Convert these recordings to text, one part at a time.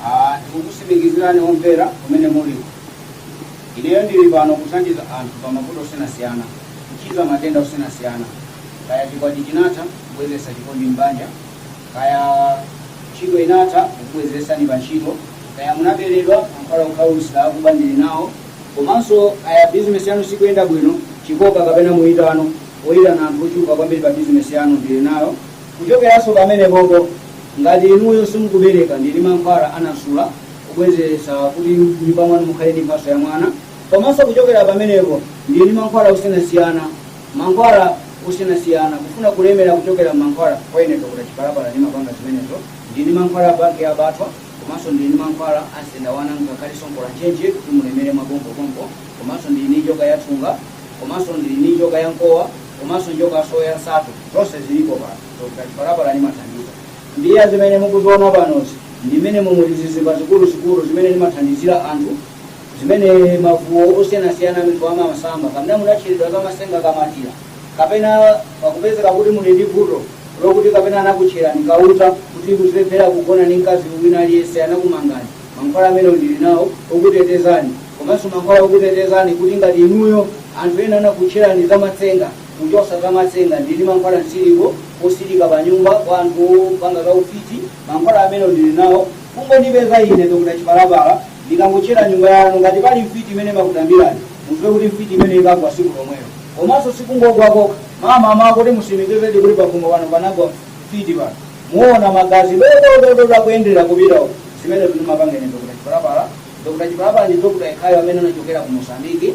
Ah, ndikukusimikizirani omvera kumene muli ineyo ndili pano kuthandiza anthu pa mavuto osiyanasiyana kuchiza matenda osiyanasiyana kaya chikwati chinatha kubwezesa chikondi m'banja Kaya ntchito inatha kukubwezesani pa ntchito, kaya munaberedwa mankhwala okhaulitsa akuba ndili nawo, komanso kaya bizinesi yanu sikuyenda bwino, chikoka kapena muitano oyitana anthu ochuluka kwambiri pa bizinesi yanu ndili nayo. Kuchokeranso pamenepopo, ngati inuyo simukubereka ndili ndi mankhwala a Nasula obwezesa kuti m'nyumba mwanu mukhale ndi mphatso ya mwana, komanso kuchokera pamenepo ndili ndi mankhwala osiyanasiyana. mankhwala osiyanasiyana kufuna kulemera kuchokera mankhwala kwa ine Dr. Chipalapala ndimapanga zimenezo ndili ndi mankhwala a banki ya batwa komanso ndili ndi mankhwala a msendawana ngakhalenso nkola ntchentche kuti mulemere mwapompopompo komanso ndili ndi njoka ya thunga komanso ndili ndi njoka ya mkowa komanso njoka ya soya nsatu zonse zilipo pano Dr. Chipalapala ndimathandiza mbiya zimene mukuziona panozi ndi mmene muli zizimba zikuluzikulu zimene ndimathandizira anthu zimene mavuto osiyanasiyana mitu ya masamba kapena munatcheredwa kamatsenga kamatira kapena pakupezeka kuti muli ndi vuto lokuti kapena anakutcherani kauta kuti muzilephera kugona ndi mkazi wina aliyense anakumangani mankhwala amenewo ndili nawo okutetezani komanso mankhwala okutetezani kuti ngati inuyo anthu ena anakutcherani za matsenga kuchosa za matsenga ndili mankhwala msiliko osilika pa nyumba kwa anthu opanga za ufiti mankhwala amenewo ndili nawo kungondipeza ine Dr. Chipalapala Ndikangotchera nyumba yanu, ngati pali mfiti imene imakutambirani, mudziwe kuti mfiti imeneyo ikagwa tsiku lomwelo. Komanso si kungogwa kokha. Mamama, kuti musimikizedi kuti pakhomo pano panagwa mfiti pano? Muona magazi dododododo akuyenderera kupita uko. Zimenezo ndimapanga ine Dr. Chipalapala. Dr. Chipalapala ndi doctor yekhayo amene anachokera ku Mozambique.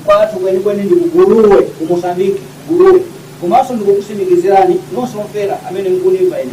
Kwathu kwenikweni ndi ku Guluwe, ku Mozambique, Guluwe. Komanso ndikukusimikizirani nonse omvera amene mukundimva ine.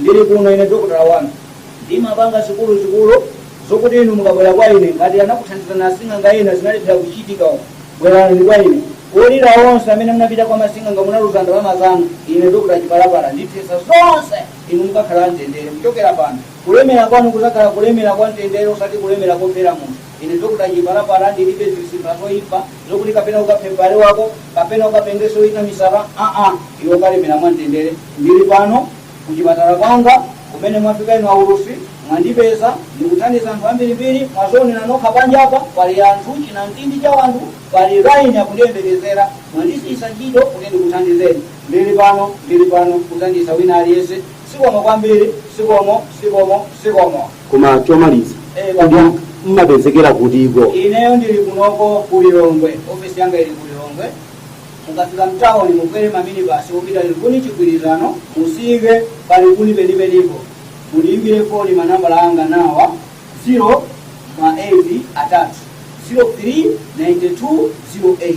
Ndili kuno ine dokotala wanu. Ndimapanga zikuluzikulu zokuti inu mukabwera kwa ine ngati anakuthandizani asing'anga ena zinalephera kuchitika. Bwerani kwa ine. Olira onse amene munapita kwa masing'anga munaluza ndalama zanu. Ine Dr. Chipalapala ndithetsa zonse inu mukakhala mtendere kuchokera pano. Kulemera kwanu kudzakhala kulemera kwa mtendere osati kulemera kofera munthu. Ine Dr Chipalapala ndilibe zizimba zoipa zokuti kapena ukaphe m'bale wako kapena ukapengetse wina misala aa iwe ukalemera mwamtendere ndili pano kuchipatala kwanga kumene mwafika inu aulutsi mwandipeza ndikuthandiza anthu ambirimbiri mwadzionera nokha panjapa pali anthu chinamtindi cha wanthu pali laini akundiyembekezera mwandisiyisa ntchito kuti ndikuthandizeni ndili pano ndili pano kuthandiza wina aliyense zikomo kwambiri zikomo zikomo zikomo Koma chomaliza Eh, kodi baba. mmapezekera kutiko? ineyo ndili kunoko ku lilongwe ofesi yanga ili ku lilongwe mukafika mtawuni mukwere maminibasi opita likuni chigwirizano mutsike pa likuni penipenipo mundiyimbire foni manambala anga nawa 0 ma 8 atatu 03 92 08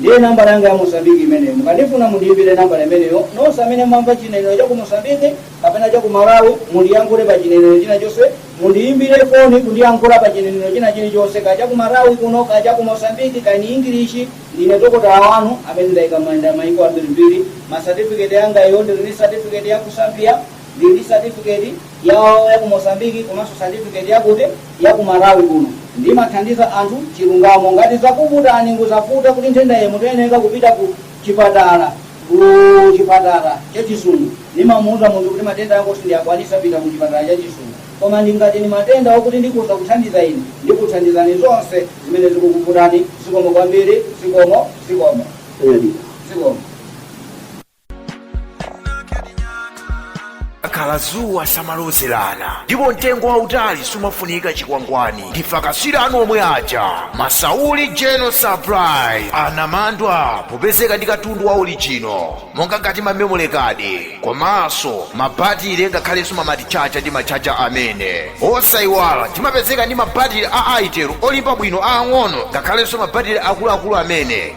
Ndiye nambala yanga ya Mozambique imeneyo. Mukandifuna mundiimbire nambala imeneyo. Nonse amene mumamva chinenero cha ku Mozambique kapena cha ku Malawi mundiyankhule pa chinenero china chonse, mundiimbire foni kundiyankhula pa chinenero china chilichonse, kaya cha ku Malawi kuno, kaya cha ku Mozambique, kaya ni English. Ndine dokotala wanu amene ndakhala ndayenda mayiko ambirimbiri. Masatifiketi anga iyo, ndili ndi satifiketi ya ku Zambia, ndili ndi satifiketi ya ya ku Mozambique komanso certificate yakuti yaku Malawi kuno ndimathandiza anthu chilungamo ngati zakuvutani ndikuuzani kuti nthenda iyi mukuyeneka kupita ku chipatala ku chipatala cha chizungu ndimamuuza munthu kuti matenda ako sindiyakwanisa pita ku chipatala cha chizungu koma ndi ngati ni matenda okuti ndikhoza kuthandiza ine ndikuthandizani zonse zimene zikukuvutani zikomo kwambiri zikomo zikomo zikomo kakhala zuwa samalozerana ndipo mtengo wautali sumafunika chikwangwani ndi akatswiri anu omwe aja masauli general supply anamandwa popezeka ndi katundu wa orijino monga ngati mamemori kadi komanso mabatire ngakhalenso mamatichacha ndi machacha amene osayiwala timapezeka ndi mabatire a Itel olimba bwino aang'ono ngakhalenso mabatire akuluakulu amene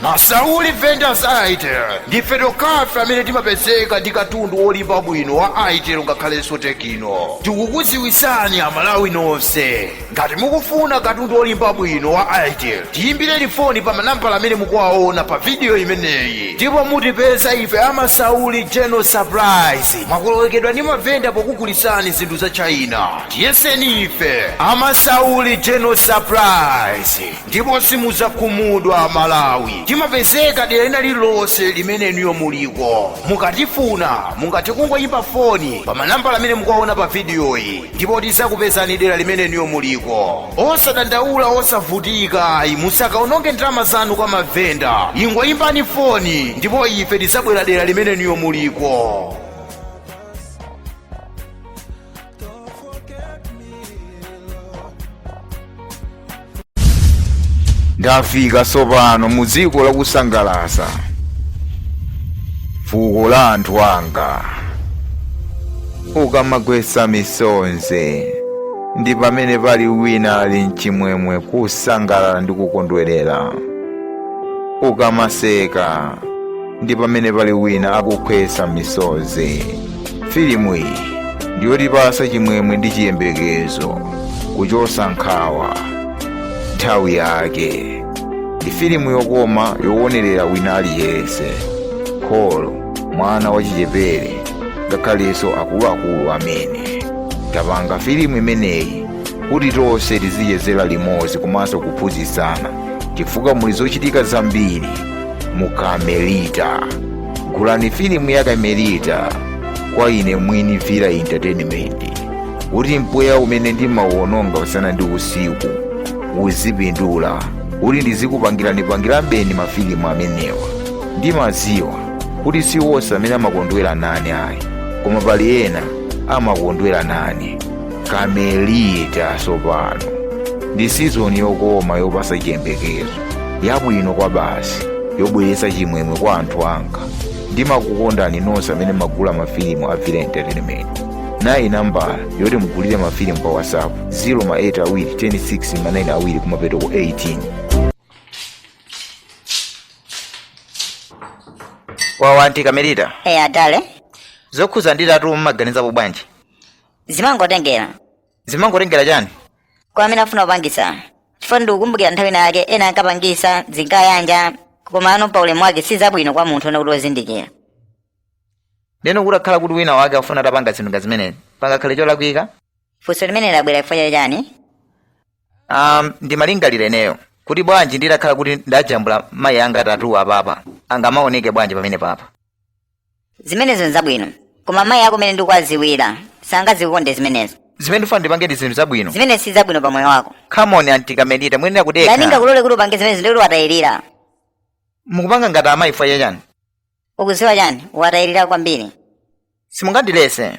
Masauli vendors Itel ndife tokhafe amene timapezeka ndi katundu wolimba bwino wa Itel ngakhalenso Tecno. Tikukudziwitsani Amalawi nonse. Ngati mukufuna katundu wolimba bwino wa Itel, tiyimbireni foni pa manambala amene mukuwaona pa vidiyo imeneyi ndipo mutipeza ife a Masauli General Suppliers. Mwakolowekedwa ndi mavenda pokugulitsani zinthu za China. Tiyeseni ife a Masauli General Suppliers. ndipo simudzakhumudwa amalawi timapezeka dera lina lililonse limene inuyo muliko mukatifuna mungathe kungoyimba foni pa manambala amene mukuwaona pa vidiyoyi ndipo tidzakupezani dera limene inuyo muliko osadandaula osavutika ayi musakaononge ndalama zanu kwa mavenda ingoyimbani foni ndipo ife tidzabwera dera limene inuyo muliko ndafika tsopano mu dziko lakusangalasa fuko la anthu anga ukamagwetsa misonzi ndi pamene pali wina ali mchimwemwe kusangalala ndi kukondwerera ukamaseka ndi pamene pali wina akukhetsa misonzi filimu iyi ndiyotipasa chimwemwe ndi chiyembekezo kuchosa nkhawa nthawi yake ndi filimu yokoma yowonerera wina aliyense kholo mwana wachichepere ngakhalenso akuluakulu amene tapanga filimu imeneyi kuti tonse tizichezera limodzi komanso kuphunzitsana chifukwa muli zochitika zambiri mu kamelita gulani filimu ya kamelita kwa ine mwini vila entertainment kuti mpweya umene ndimauononga usana ndi usiku uzipindula kuti ndizikupangirani pangira mbeni mafilimu amenewa ndimadziwa kuti si wonse amene amakondwera nane ayi koma pali ena amakondwera nane kamelita tsopano ndi sizoni yokoma yopasa chiyembekezo yabwino kwa basi yobweretsa chimwemwe kwa anthu anga ndimakukondani nonse amene mmagula mafilimu a vila entertainment nayi nambala yoti mugulire mafilimu pa whatsapp 0 ma 8 awiri 106 ma 9 awiri kumapeto ku 18 wawa anti kamelita eya adale zokhuza ndi tatu mumaganizapo bwanji zimangotengera zimangotengera chani kwa amene afuna kupangisa chifukwa ndikukumbukira nthawi ina yake ena ankapangisa zinkayanja komano pa ulemu wake si zabwino kwa munthu woona kuti wozindikira ndeno kutakhala kuti wina wake afuna atapanga zinthu ngazimenezi pangakhale cholakwika funso limene labwera chifukwa cha chani um, ndimalingalira ineyo kuti bwanji nditakhala kuti ndajambula mayi anga tatu apapa angamaoneke bwanji pamene papa zimenezo nzabwino koma mayi ako mene ndikuwaziwira sangazikonde zimenezo zimene ndifuna ndipange ndi zinthu zabwino zimenezo si zabwino pa moyo wako come on anti kamelita muyenera kudekha ndani angakulole kuti upange zimenezo ndikuti watayirira mukupanga ngati amayi fwa chachani ukuziwa chani watayirira kwambiri simungandilese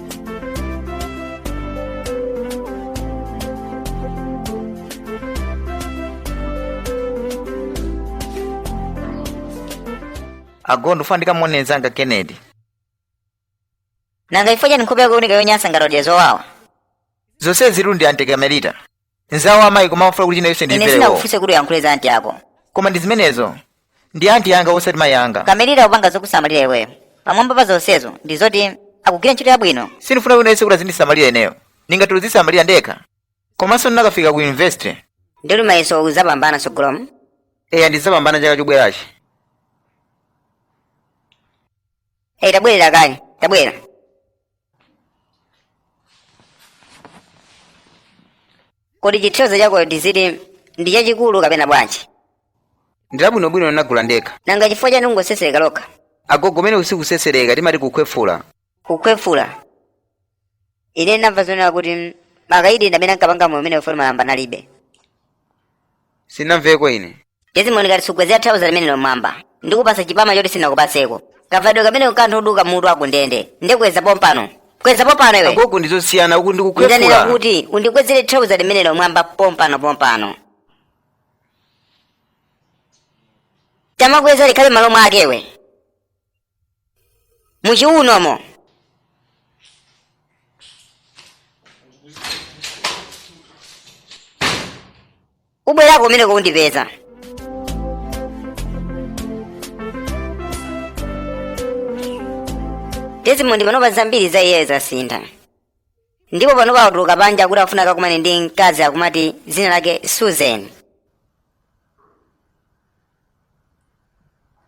agondo funa ndikamuone nzanga kennedy nanga chifukwa chani nkhope yako ikuoneka yonyansa ngati wadya zowawa zonsezi zili ndi anti kamelita nzawo a mayi koma amafuna kuti china chonse ine ndimvere iwo sinakufunse kuti uyankhule za anti ako koma ndi zimenezo ndi anti yanga osati mayi anga kamelita kupanga zokusamalira iweyo pamwamba pa zonsezo ndi zoti akugwira ntchito yabwino sindifuna kuti wina aliyense kuti azindisamalira ineyo ndingathe kuzisamalira ndekha komanso ndinakafika ku university ndili mayeso uzapambana sogolomo eya ndizapambana chaka chobwerachi eyi tabwerera kaye tabwera kodi chithauza chakocho tiziti ndi chachikulu kapena bwanji ndilabwinobwino ndinagula ndekha nanga chifukwa chani likungosesereka lokha agogo uku sikusesereka timati kukhwefula kukhwefula ine ndamva zonena kuti mm, makaidi ndi amene ankapanga moyo umenewo poti malamba nalibe sunamveko iwe desmond ngati sugwezera thauza limenelo mwamba ndikupasa chipama choti sindinakupaseko kavalidwe kameneko ka anthu oduka mutu akundende ndiye kweza pompano kweza pompano iwe agogo ndizosiyana uku ndikukhwefula ndanena kuti undikwezere thauza limenelo mwamba pompano pompano tamakweza likhale mmalo mwake iwe muchiunomo ubwerako kumeneko undipeza desmond panopa zambiri za iyeyo zasintha ndipo panopa watuluka panja kuti afuna akakumane ndi mkazi akumati dzina lake susan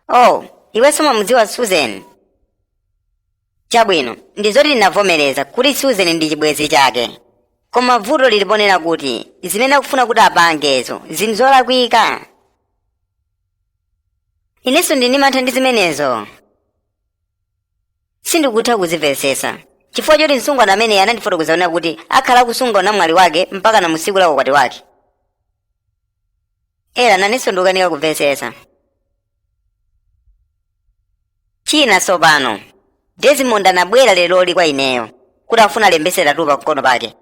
oh iwe sumamudziwa susan chabwino ndi zoti ndinavomereza kuti susan ndi chibwenzi chake koma vuto lili ponena kuti zimene akufuna kuti apangezo nzolakwika inenso ndili ndi mantha ndi zimenezo sindikutha kuzimvetsetsa chifukwa choti msungwana ameneyi anandifotokozera kuti akhala akusunga unamwali wake mpakana tsiku la ukwati wake ela nanenso ndikukanika kumvetsetsa china tsopano desmond anabwera leroli kwa ineyo kuti afuna alembetse tatu pamkono pake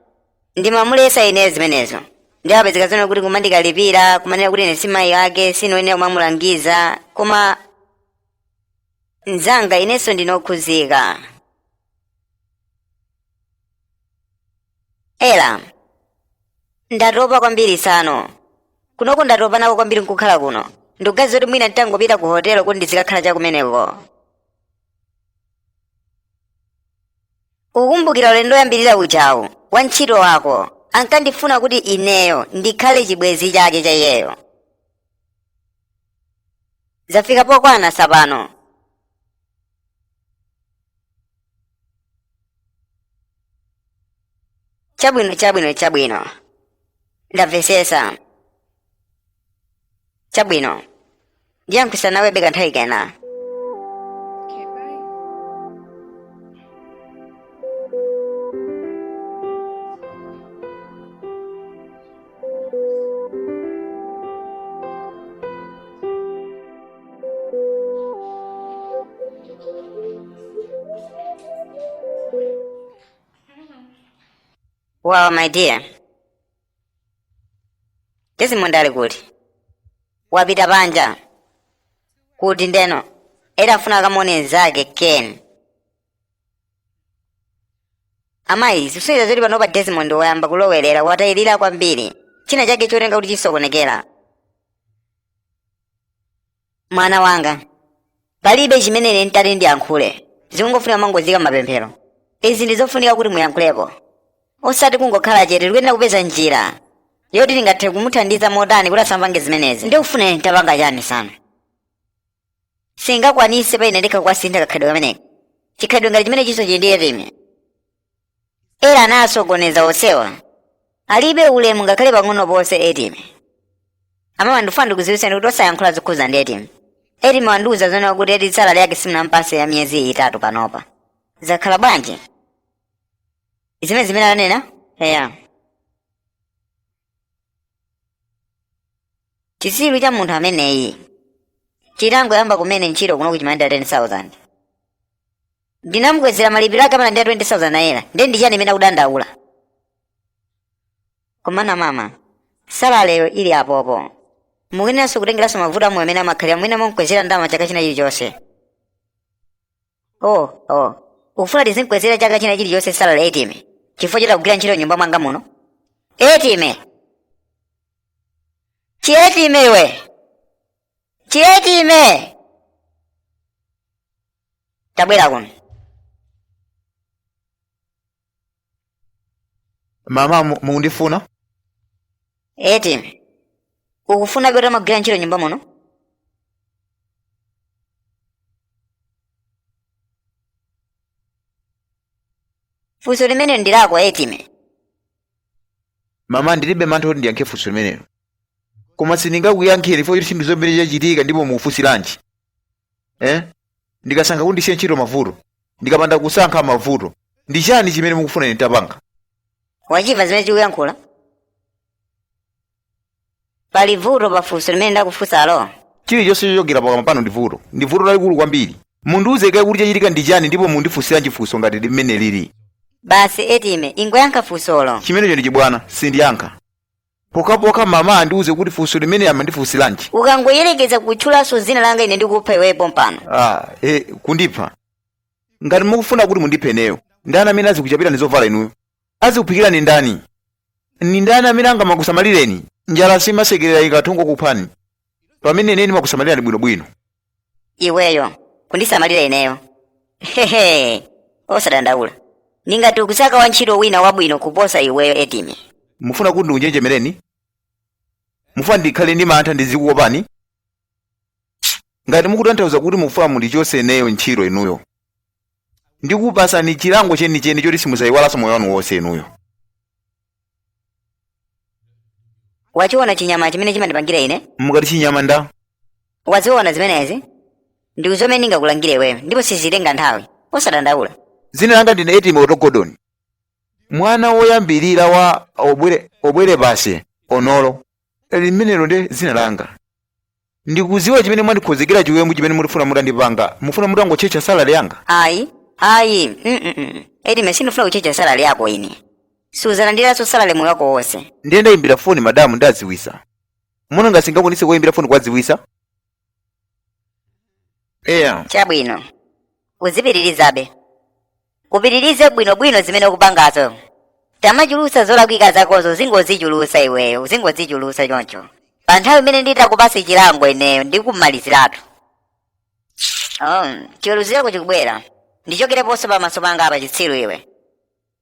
ndimamuletsa ineyo zimenezo ndiye apezeka zoona kuti nkumandikalipira kumanena kuti ine si mayi ake sindiyenera kumamulangiza koma mnzanga inenso ndine okhuzika ela ndatopa kwambiri tsano kunoko ndatopa nako kwambiri nkukhala kuno ndikuganiza kuti mwina nditangopita ku hotelo kuti ndizikakhala chakumeneko ukukumbukira ulendo woyambirira uja wantchito wako ankandifuna kuti ineyo ndikhale chibwenzi chake cha iyeyo zafika pokwana tsopano chabwino chabwino chabwino ndamvesesa chabwino ndiyankhulisa nawe beka nthawi kena Okay, bye. Well, my dear. Desmond ali kuti? Wapita panja. Kuti ndeno. Ela afuna akamuone nzake Ken. amayi zikusonyeza zoti panopa desmond wayamba kulowerera watayirira kwambiri china chake chikuoneka kuti chikusokonekera mwana wanga palibe chimene ine nditati ndiyankhule zikungofunika mungozika m'mapemphero izi ndi zofunika kuti muyankhulepo osati kungokhala chete tikuyenera kupeza njira yoti tingathe kumuthandiza motani kuti asamapange zimenezi nde ukufuna ine nditapanga chani mwana sindingakwanise pa ine ndekha kuwasintha kakhalidwe kameneka chikhalidwe ngati chimenechi chili ndi etime eya anasokoneza onsewa alibe ulemu ngakhale pang'ono ponse etime amama ndifuna ndikudziwitseni kuti osayankhula zokhuza ndi etime etime wandiuza zonena kuti eti salale yake simunampatse ya miyezi itatu panopa zakhala bwanji ndi zimene ananena eya chitsiru cha munthu ameneyi chitangoyamba kumene ntchito kuno chimalandira 10000 ndinamukwezera malipiro ake amalandira 20000 naira ndiye ndi chani chimene akudandaula komana mama salaleyo ili apo mukuyeneranso kutengeranso mavuto a moyo amene amakhalira mwina mumukwezera ndalama chaka china chilichonse oh oh ufuna tizimkwezera chaka china chilichonse salale etime chifukwa choti akugwira ntchito m'nyumba mwanga muno etime chietime iwe chietime tabwera kuno mama mu- mukundifuna eti ukufunabe utamagwira ntchito m'nyumba muno funso limenelo ndi lako etime mama ndilibe mantha kuti ndiyankhe funso limenelo koma sindingakuyankheni chifukwa choti chinthu chimene chachitika ndipo mukufunsiranji eh? ndikasankha kuti ndisiye ntchito mavuto ndikapanda kusankha mavuto ndi chani chimene mukufuna ine nditapanga wachimva zimene chikuyankhula pali vuto pa funso limene ndakufunsalo chilichonse chochokera pakamwa panu ndi vuto ndi vuto lalikulu kwambiri mundiuze kaye kuti chachitika ndi chani ndipo mundifunsiranji funso ngati limeneli basi etime ingoyankha funsolo chimenecho ndi chibwana sindiyankha pokhapokha mama andiuze kuti funso limeneli amandifunsilanji ukangoyerekeza kutchulanso dzina langa ine ndikupha iweyo pompano ah, e, kundipha ngati mukufuna kuti mundiphe ineyo ndani amene azikuchapirani zovala inuyo azikuphikirani ndani ndi ndani amene angamakusamalireni njala simasekerera ikhoza kungokuphani pamene ine ndimakusamalirani bwinobwino iweyo kundisamalira ineyo hehe osadandaula ndingati ukusaka wantchito wina wabwino kuposa iweyo etimo mufuna kuti ndikunjenjemereni mufuna ndikhale ndi mantha ndizikuopani ngati mukutanthauza kuti mufuna mundichotse ineyo ntchito inuyo ndikupasani chilango chenicheni choti simuzayiwalanso moyo wanu wonse inuyo wachiona chinyama chimene chimandipangira ine ukuti chinyama ndani waziona zimenezi ndi zomwe ndingakulangire iweyo ndipo sizitenga nthawi osadandaula zina langa ndine etimo otogodoni mwana woyambirira wa obwere basi onolo limenelo ndi dzina langa ndikuziwa chimene mwandikhozekera chiwembu chimene mukufuna mutandipanga mufuna mutangotchetcha salale yanga ayi ayi mm etimo sindifuna kutchetcha salale yako ine suzalandiranso salale moyo wako wonse ndiye ndayimbira foni madamu ndadziwisa muona ngati singakwanitse kuyimbira foni kuwadziwisa eya chabwino uzipitirizabe upitirize bwinobwino zimene ukupangazo tamachulusa zolakwika zakozo uzingozichulusa iweyo uzingozichulusa choncho pa nthawi imene nditakupasa chilango ineyo ndikumaliziratu um, chiweruzo chako chikubwera ndichokereponso pamaso panga apa chitsiru iwe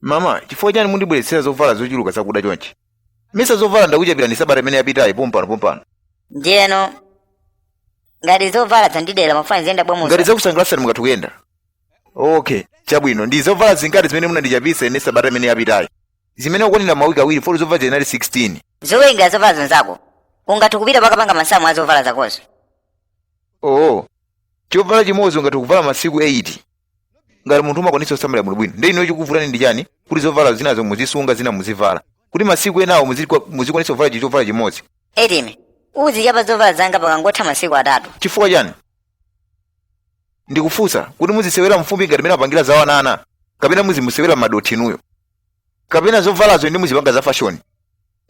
mama chifukwa chani mundibweretsera zovala zochuluka zakuda chonchi mesa zovala ndakuchapira ndi sabata imene yapitayi pompano pompano ndiyeno ngati zovala zandidera mufuna ziyenda bwa ngati sizakusangalatsani mukatha kuyenda okay chabwino ndi zovala zingati zimene munandichapisa ine sabata imene yapitayi zimene zikukwanira mawiki awiri foti zovala zinali 16 zowerenga zovala zonse zako ungathe kupita kukapanga masamu a zovala zakozo oo chovala chimodzi ungathe kuvala masiku 8 ngati munthu umakwanitsa kusamalira bwinobwino ndiyeno chikuvutani ndi chani kuti zovala zinazo muzisunga zina muzivala kuti masiku enawo muzikwa- muzikwanitsa kuvala chinthu chovala chimodzi etimo uzichapa zovala zanga pakangotha masiku atatu chifukwa chani ndikufunsa kuti muzisewera mfumbi ngati mene amapangira za ana ana kapena muzisewera m'madothi inuyo kapena zovalazo ndi muzipanga za fashoni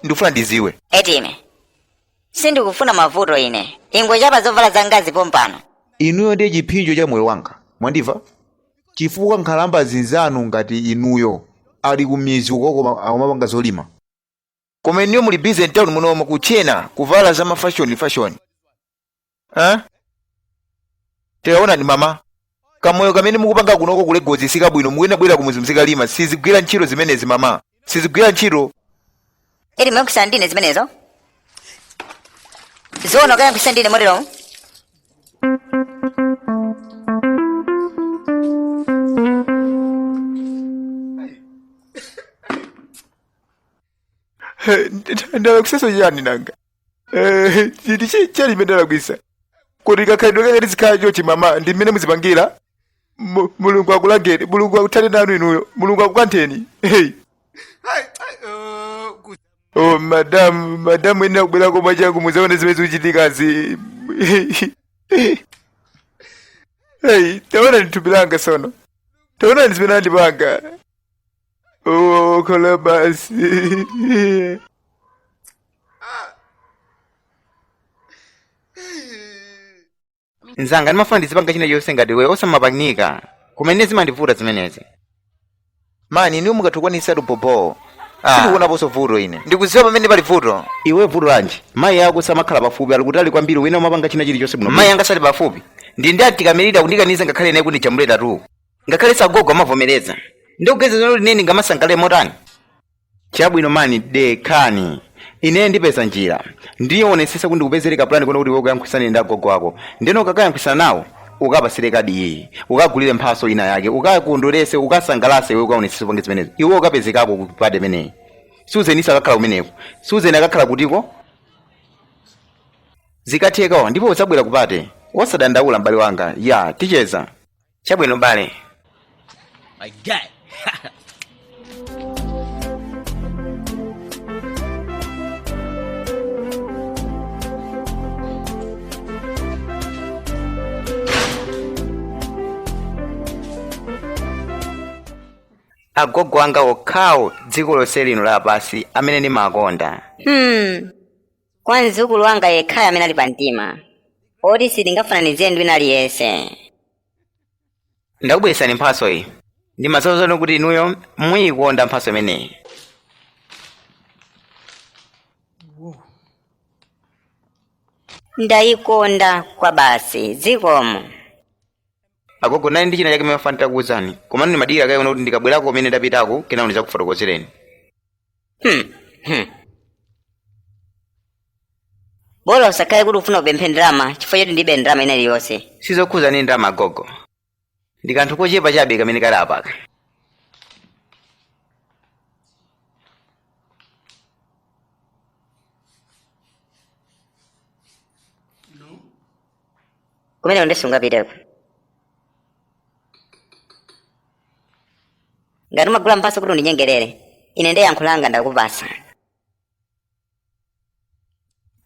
ndikufuna ndiziwe etimo sindikufuna mavuto ine ingochapa zovala zangazi pompano inuyo ndiye chiphinjo cha moyo wanga mwandimva chifukwa nkhalamba zinzanu ngati inuyo ali ku mizi ukoko akumapanga zolima koma inuyo muli busy mtown munomo kutchena kuvala za mafashoni fashoni eh? tikaonani mama kamoyo kamene mukupanga kunoko ku lagos sikabwino mukuyenera kubwerera kumuzi mzikalima sizigwira ntchito zimenezi mama sizigwira ntchito etimo ukuyankhulisa ndine zimenezo zoona ukuyankhulisa ndine motero ndalakwitsaso chani nanga Eh, ndi chiyani chimene ndalakwisa kodi kakhalidwe kake tizikhala chochi mama ndi mmene muzipangira Mu- mulungu akulangeni mulungu akuthane nanu inuyo mulungu akukantheni hey. oh, madamu madamu ena kubwera kuno changu muzaone zimene zikuchitikazi hey, taonani thupi langa lonse taonani zimene andipanga Oh, Kalabasi. nzanga ndimafuna ndizipanga china chonse ngati iwe osamapangika koma nde zimandivuta zimenezi mani iwe ungakwanisetu bhobho Ah. sindikuonaponso vuto ine ndikuziwa pamene pali vuto iwe vuto lanji mayi ako samakhala pafupi ali kutali kwambiri ndiye umapanga china chilichonse bwino mayi anga sali pafupi ndi ndi akakamira kundikaniza ngakhale nane kundijambuliratu ngakhaleso agogo amavomereza ndikugezeza kuti ine ndingamasangalale motani chabwino mani dekhani ine ndipeza njira ndionesesa kuti ndikupezere kapulani koti kuti ukayankhwisane ndi agogo wako ndeno ukakayankhwisana nawo ukapasire kadi iyi ukagulire mphaso ina yake ukakondwerese ukasangalase iwe ukaonesesa upange zimenezo iwe ukapezekako kupate imeneyi suzeni sakakhala kumeneko suzeni akakhala kutiko zikatheka ndipo udzabwera kupate wosadandaula m'bale wanga ya ticheza chabwino bale My guy. agogo anga okhawo dziko lonse lino lapansi amene ndimakonda hmm kwa mdzukulu wanga yekhayo amene ali pa mtima oti sindingafananizire ndi wina aliyense ndakubweretsani mphatso iyi ndimadziwa kuti inuyo muyikonda mphatso imeneyi ndayikonda kwabasi zikomo agogo ndinali ndi china chake ndimafuna nditakuwuzani komano ndimadikira kaye kuti ndikabwerako kumene ndapitako kenako ndidzakufotokozereni Hmm, hmm. bola usakhale kuti ufuna upemphe ndalama chifukwa choti ndilibe ndalama ina iliyonse sizokhuza ndi ndalama agogo ndi kanthu kochepa chabe kamene kali apaka kumene undisunga piteko ngati umagula mphatso kuti undinyengerere ine nde yankho langa ndakupasa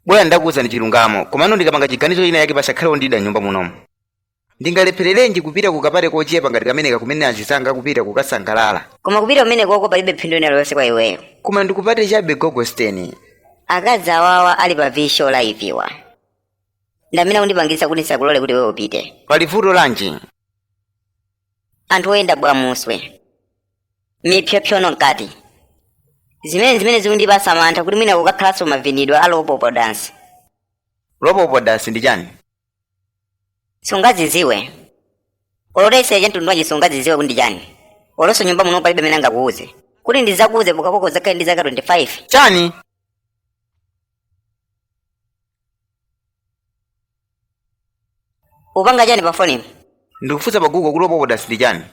bola ndakuwuzani chilungamo komano ndikapanga chiganizo china chake pasakhale ondida m'nyumba munomo ndingalephererenji kupita kukapate kochepa ngati kameneka kumene azizanga akupita kukasangalala koma kupita kumenekoko palibe phindu ina iliyonse kwa iweyo koma ndi kupate chabe gogo Steni akazi awawa ali pa visual live-wa ndamene akundipangitsa kuti ndisakulole kuti iweyo upite pali vuto lanji anthu oyenda bunobwamuswe mipsyopsyono mkati zimene zimene zikundipasa mantha kuti mwina kukakhalanso mavinidwe a lopopo dance lopopo dance ndi chani sungaziziwe olo utayesera cha mtundu wanji sungaziziwe kuti ndi chani olonso m'nyumba muno palibe amene angakuuze kuti ndizakuuze pokhapokha uzakhale ndi zaka 25 chani upanga chani pa fonipo ndikufunsa pa google kuti lopopo dance ndi chani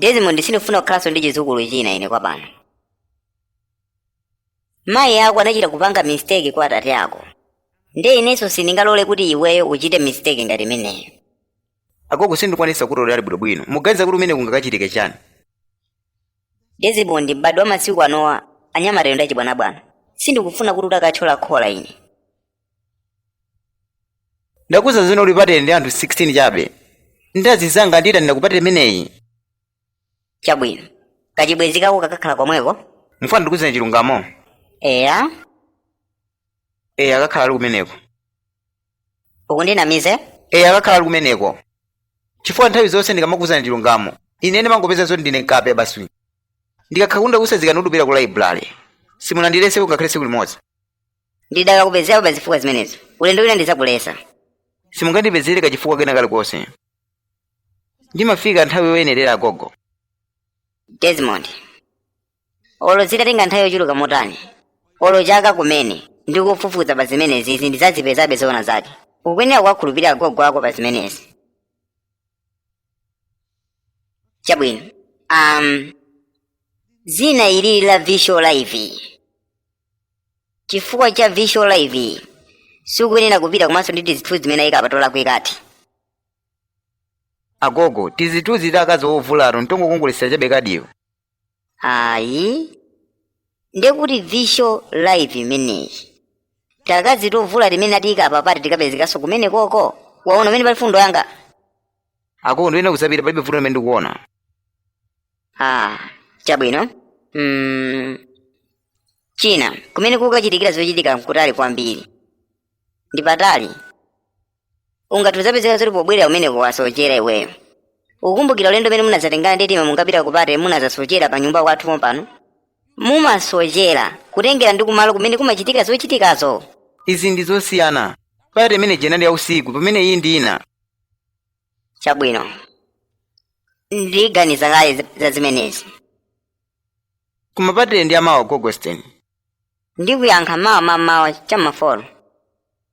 desmond sindifuna kukhalanso ndi chizukulu china ine kwa pano mayi ako anachita kupanga mistake kwa atate ako nde inenso sindingalole kuti iweyo uchite mistake ngati imeneyo agogo sindikwanisa kutolera ali bwinobwino muganiza kuti kumene kungakachitike chani desmond m'bado wa masiku anowa anyamatayo ndi achibwanabwana sindikufuna kuti udakathyola khola ine ndakuuza zino uli pate ndi anthu 16 chabe ndi azizanga ndita ndi kupate imeneyi chabwino kachibwenzi kako kakakhala komweko mufuna ndikuuzeni chilungamo eya eya akakhala ali kumeneko ukandinamize eya akakhala ali kumeneko chifukwa nthawi zonse ndikamakuuzani chilungamo ine ndimangopeza zoti ndine mkape basi ndikakhala kuti ndakusazikani ndikupita ku laibulale simunandilesepo ngakhale tsiku limodzi ndidakakupezerabe zifukwa zimenezo ulendo wina ndidzakulesa simungandipezere kachifukwa kena kalikonse ndimafika nthawi yoyenerera agogo desmond olo zitatenga nthawi yochuluka motani olo chaka kumene ndikufufuza pa zimenezi izi ndidzazipezabe zoona zake ukuyenera kuwakhulupirira agogo ako pa zimenezi chabwino um, zina ili la visual live chifukwa cha visual live sukuyenera kupita komanso ndi tizithu zimene ayika apa tolakwikati agogo tizithunzi ta akazi ovulato ntongokongoletsera chabe kadiyo ayi ndekuti visual live imeneyi taakazi tovula timene atiyika apa pati tikapezekanso kumene koko waona umene pali fundo yanga agogo ndiyene kusapita palibe vuto limene ndikuona ah chabwino mm. china kumene kukachitikira zochitika nkutali kwambiri ndi patali ungathe kudzapezeka zoti pobwerera kumeneku wasochera iweyo ukukumbukira ulendo umene munadzatengana ndi tima munkapita ku party munadzasochera pa nyumba kwathu pompano mumasochera kutengera ndi kumalo kumene kumachitika zochitikazo izi ndi zosiyana party imene ija inali ya usiku pamene iyi ndi ina chabwino ndiganiza kale za- za zimenezi koma party ndi ya mawa gogo still ndikuyankha mawa mamawa chamafolo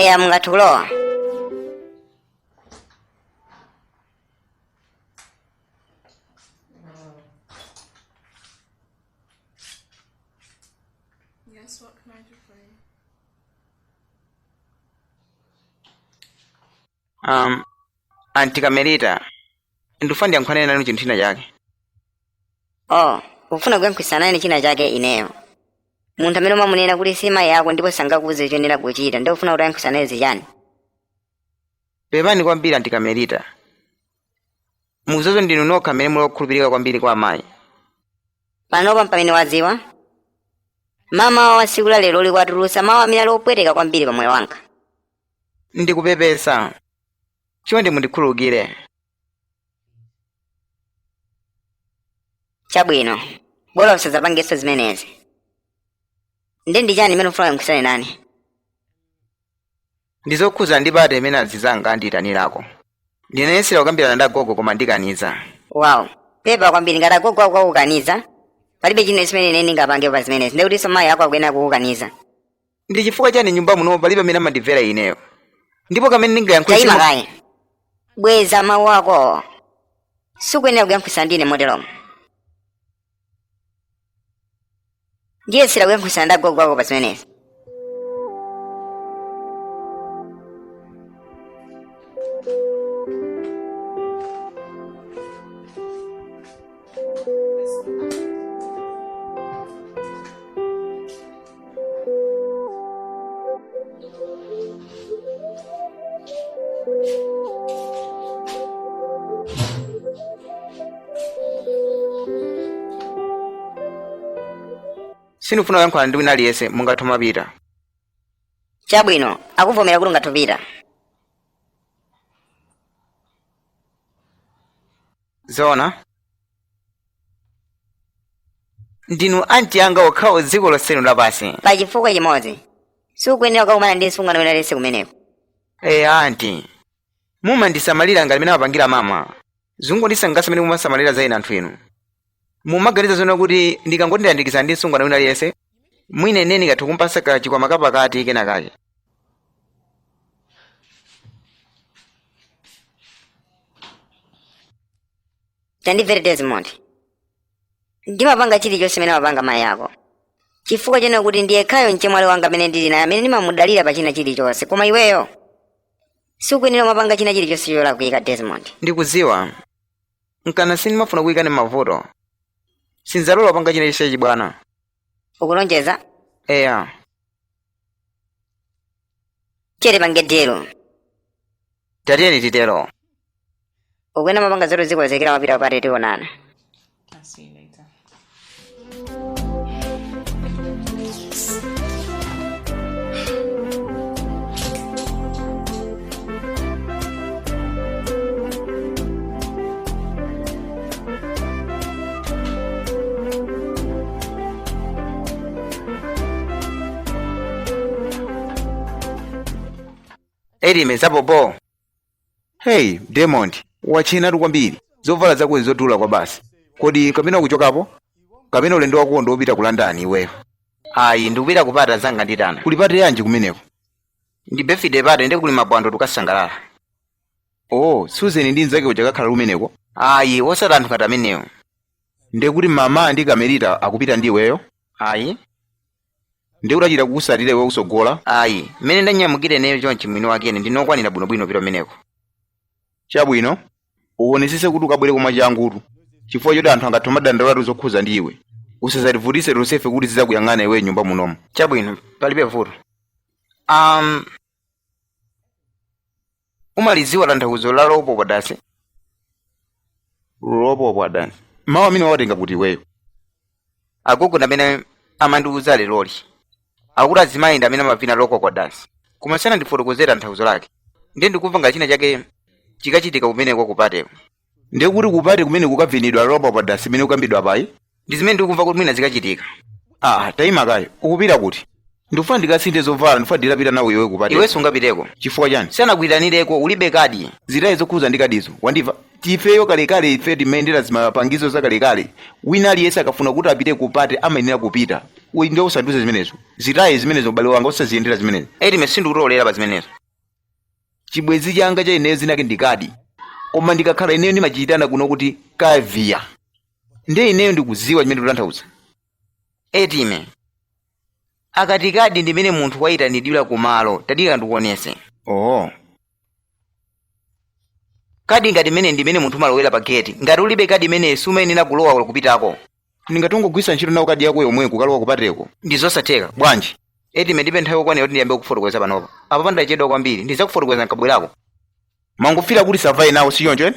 eya mungathe kulowa Yes, what can I do for you? um, auntie Kamelita ndifuna ndiyankhulane nanu chinthu china chake oh ukufuna kuyankhulitsana nane china chake ineyo munthu amene umamunena kuti si mayi ako ndipo sangakuuze choyenera kuchita nde ukufuna kuti uyankhulitsane naye zichani pepani kwambiri auntie Kamelita muzozo ndinu nokha amene muli okhulupirika kwambiri kwa amayi panopa mpamene wadziwa mmawa wa tsiku la leroli watulutsa mawu amene ali opweteka kwambiri pa moyo wanga ndikupepesa chonde mundikhululukire chabwino bola usadzapangenso zimenezi ndi ndi chani imene ufuna uyankhulitsane nane ndizokhuza ndi party imene azizanga andiyitanirako ndinayesera kukambirana ndi agogo koma andikaniza wow pepa kwambiri ngati agogo ako akukaniza palibe china chimene ine ndingapange pa zimenezi ndekutinso mayi ako akuyenera kukukaniza ndi chifukwa chani nyumba muno palibe amene amandimvera ineyo ndipo kamene ndingayankhule taima simu- kaye bweza mawu akowo sukuyenera kuyankhulitsana ndine moteromo ndiyesera kuyankhulitsana ndi agogo ako pa zimenezi sindikufuna kuyankhulana ndi wina aliyense mungathe kumapita chabwino akuvomera kuti ungathe kupita zoona ndinu anti anga okhawo dziko lonse lino lapansi pa chifukwa chimodzi sukuyenera kukakumana ndi msungwana wina aliyense kumeneko ee anti mumandisamalira ngati mene amapangira mama zungondisangalatsa mene mumasamalira za ine anthu inu mumaganiza zoona kuti ndikangoti ndayandikizana ndi msungwana wina aliyense mwina ine ndingathe kumpasa kachikwama kapakati kenakake tandimvera desmond ndimapanga chilichonse chimene amapanga mayi ako chifukwa chonena kuti ndi yekhayo mchemwali wanga amene ndili naye amene ndimamudalira pa china chilichonse koma iweyo sukuyenera kumapanga china chilichonse cholakwika desmond ndikudziwa nkana sindimafuna kuyikani mavuto sindizalola kupanga china chilichonse chachibwana ukulonjeza eya chete pangani dilo tatiyeni titero ukuyenera kumapanga zoti uzikonzekera kupita kupati tionana I'll see you later. elime zapopo heyi desmond watchenatu kwambiri zovala zako zodula kwa basi kodi kapena kuchokapo kapena ulendo wako ndi wopita ku london iweyo ayi ndikupita kupate anzanga andiitana kuli pati yanji kumeneko ndi birthday pate nde kuli mapwando tukasangalala o susan ndi mnzake uja akakhala kumeneko ayi osati anthu ngati amenewo ndiye kuti mama ndi kamerita akupita ndi iweyo ayi ndiye kuti achita kukutsatira iwe kutsogolo ayi mmene ndanyamukira ineyo chonchi mwini wake ine ndine wokwanira bwinobwino kupita kumeneko chabwino uwonesese kuti ukabwere ko mwachangutu chifukwa choti anthu angathe kumadandaulatu zokhuza ndi iwe usazativutise tonsefe kuti tizizakuyang'ana iwe mnyumba munomu chabwino palibe vuto um umalidziwa tanthauzo la lopopwa dansi lopopwa dansi mawu amenewa wawatenga kuti iweyo agogo ndi amene amandiuza leroli akuti azimayi ndi amene amavina lopopwa dansi koma sanandifotokozere tanthauzo lake ndiye ndikumva ngati china chake chikachitika kumeneko kupateko ndiye kuti kupati kumene kukavinidwa lopa pa dasi imene kukambidwa payi ndi zimene ndikumva kuti mwina zikachitika ah tayima kaye ukupita kuti ndikufuna ndikasinthe zovala ndifuna nditapita nawe iwe kupati iwe sungapiteko chifukwa chani sanakuitanireko ulibe kadi zitaye zokhuza ndi kadizo wandimva tifeyo kalekale ife timayendera zimapangizo zakalekale wina aliyense akafuna kuti apite kupati amayenera kupita Uyi ndiye usandiuze zimenezo zitaye zimenezo ubale wanga usaziyendere zimenezo edime sindikutolera pa zimenezo chibwenzi changa cha ineyo zinake ndi kadi koma ndikakhala ineyo ndimachiyitana kuno kuti kaviya ndiye ineyo ndikudziwa chimene ndikutanthauza edime akati kadi ndimene munthu wayitanidwira kumalo tadikira ndikuonese oho kadi ngati imeneyi ndimene munthu umalowera pa geti ngati ulibe kadi imeneyi sumayenera kulowa kupitako nditha kungogwisa ntchito nawo kadi yako yomwe kukalowa kupateko ndi zosatheka bwanji edime ndipe nthawi yokwanira kuti ndiyambe kufotokoza panopa apa pandachedwa kwambiri ndidzakufotokoza nkabwerako mwangofera kuti savaya nawo si choncho ene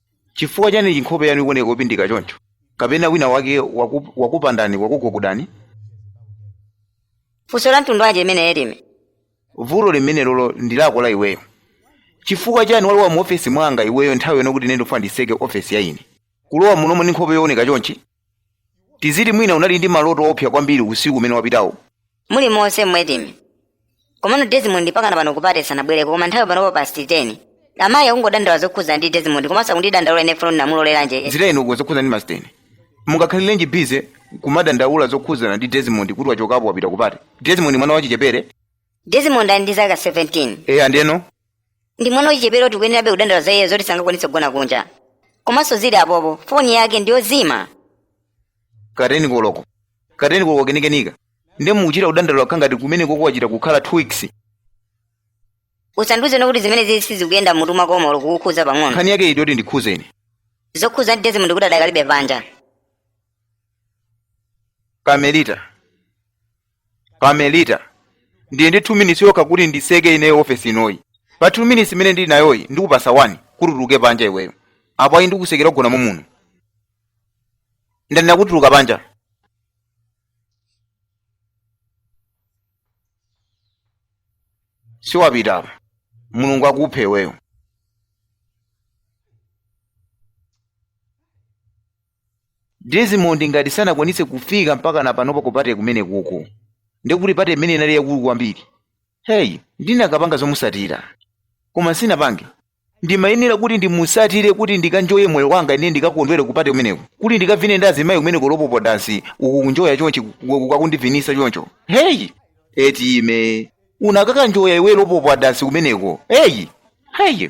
chifukwa chani chinkhope yanu ikuoneka yopindika choncho kapena wina wake waku, wakupandani wakugogodani funso la mtundu wanji imene edime vuto limenelolo ndi lako la iweyo chifukwa chani walowa mu ofesi mwanga iweyo nthawi yonena kuti ine ndifuna ndiseke ofesiyi ine kulowa munomo ndi nkhope yooneka chonchi tiziti mwina unali ndi maloto oopsa kwambiri usiku umene wapitawo muli monse mu edime komano desmond pakana pano kupate sanabwereko koma nthawi panopo past 10 amayi akungodandaula zokhudza ndi desmond komanso akundidandaula ine kuti ndinamuloleranji zitayeni inu zokhudza ndi masiteni mungakhalirenji bize kumadandaula zokhudzana ndi desmond kuti wachokapo wapita kupati desmond mwana wachichepere desmond ali ndi zaka 17 eya ndeno ndi mwana wachichepere tikuyenerabe kudandaula za iye zoti sangakwanitse kugona kunja komanso zili apopo foni yake ndi yozima kateni koloko kateni koloko kenikenika ndiye mukuchita kudandaula kukhala ngati kumeneko ko wachita kukhala two weeks usandiuze kuti zimenezizi sizikuyenda mutu mwako olo kukukhuza pang'ono nkhani yake iti yoti indikhuze ine zokhuza ndi Desmond kuti adakalibe panja kamelita kamelita ndili ndi 2 minutes yokha kuti ndiseke ineyo ofesi inoyi pa 2 minutes imene ndili nayoyi ndikupasa 1 kuti utuluke panja iweyo apo ayi ndikusekera ugona momuno ndanena kuti utuluke panja siwapita apa mulungu akuphe iweyo Desmond ngati sanakwanitse kufika mpaka na panopa ku pate kumenekuko ndi kuti pate imene inali yakulu kwambiri heyi ndinakapanga zomusatira koma sinapange ndimayenera kuti ndimusatire kuti ndikanjoye moyo wanga ine ndikakondwere ku pate kumeneko kuti ndikavine ndi azimayi kumeneko lopopo dansi uku kunjoya chonchi ukakundivinisa choncho heyi Etime unakakanjoya iwe lopopo dansi kumeneko heyi heyi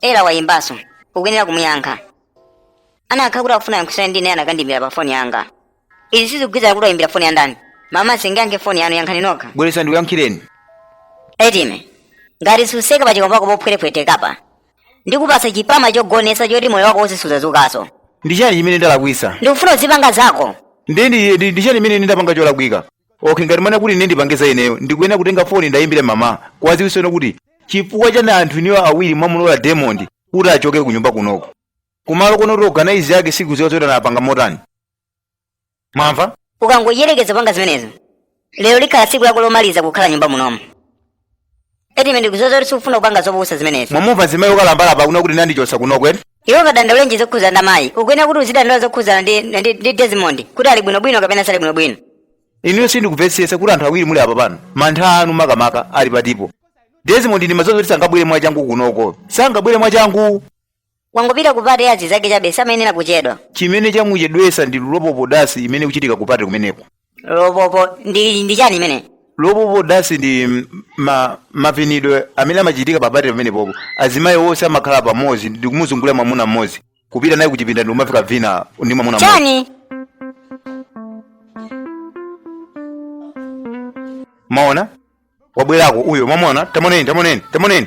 era wayimbanso ukuyenera kumuyankha anakhala kuti akufuna yankhulirani ndi ine anakandimbira pa foni yanga izi sizikugwirizana kuti wayimbira foni ya ndani mama singayankhe foni yanu yankhani nokha bweresa ndikuyankhireni etime ngati suseka pa chikomba chakopo phwetephwetekapa ndikupasa chipama chogonesa choti moyo wako wonse suzazukaso ndi chani chimene ndalakwisa ndikufuna uzipanga zako ndi ndi- ndi- ndi chani chimene ndapanga cholakwika okay ngati mwanena kuti ine ndipange za ineyo ndikuyenera kutenga foni ndiwayimbire mama kuwaziwisano kuti chifukwa chani anthu inu awiri mwamulola Desmond kuti achoke ku nyumba kunoko kumalo kono kuti organize yake sikuziwa zoti anapanga motani mwamva ukangoyerekeza kupanga zimenezo lero likhala tsiku lako lomaliza kukhala nyumba munomo Etime ndikuuza kuti sikufuna kupanga zopusa zimenezi mwamumva mzimayi okalamba apa kunena kuti andichosa kunoko eti iwe ungadandaulenji zokhuza ndi amayi ukuyenera kuti uzidandaula zokhuzana ndi, ndi, ndi desmond kuti ali bwinobwino kapena sali bwinobwino ineyo sindikumvesesa kuti anthu awiri muli apa pano mantha anu makamaka ali patipo desmond ndimaziwa zoti sangabwere mwachangu kunoko sangabwere mwachangu wangopita ku pate ya azinzake chabe samayenera kuchedwa chimene chamuchedwesa ndi lopopo dansi imene ikuchitika ku pate kumeneko lopopo ndi ndi chani imene lopopo dansi ndi m- ma, mavinidwe amene amachitika pa pate pamenepopo azimayi onse amakhala pamodzi ndi kumuzungulira mwamuna mmodzi kupita naye kuchipinda ndi kumafika kuvina ndi mwamuna mmodzi chani mwaona wabwerako uyo mwamuona tamuoneni tamuoneni tamuoneni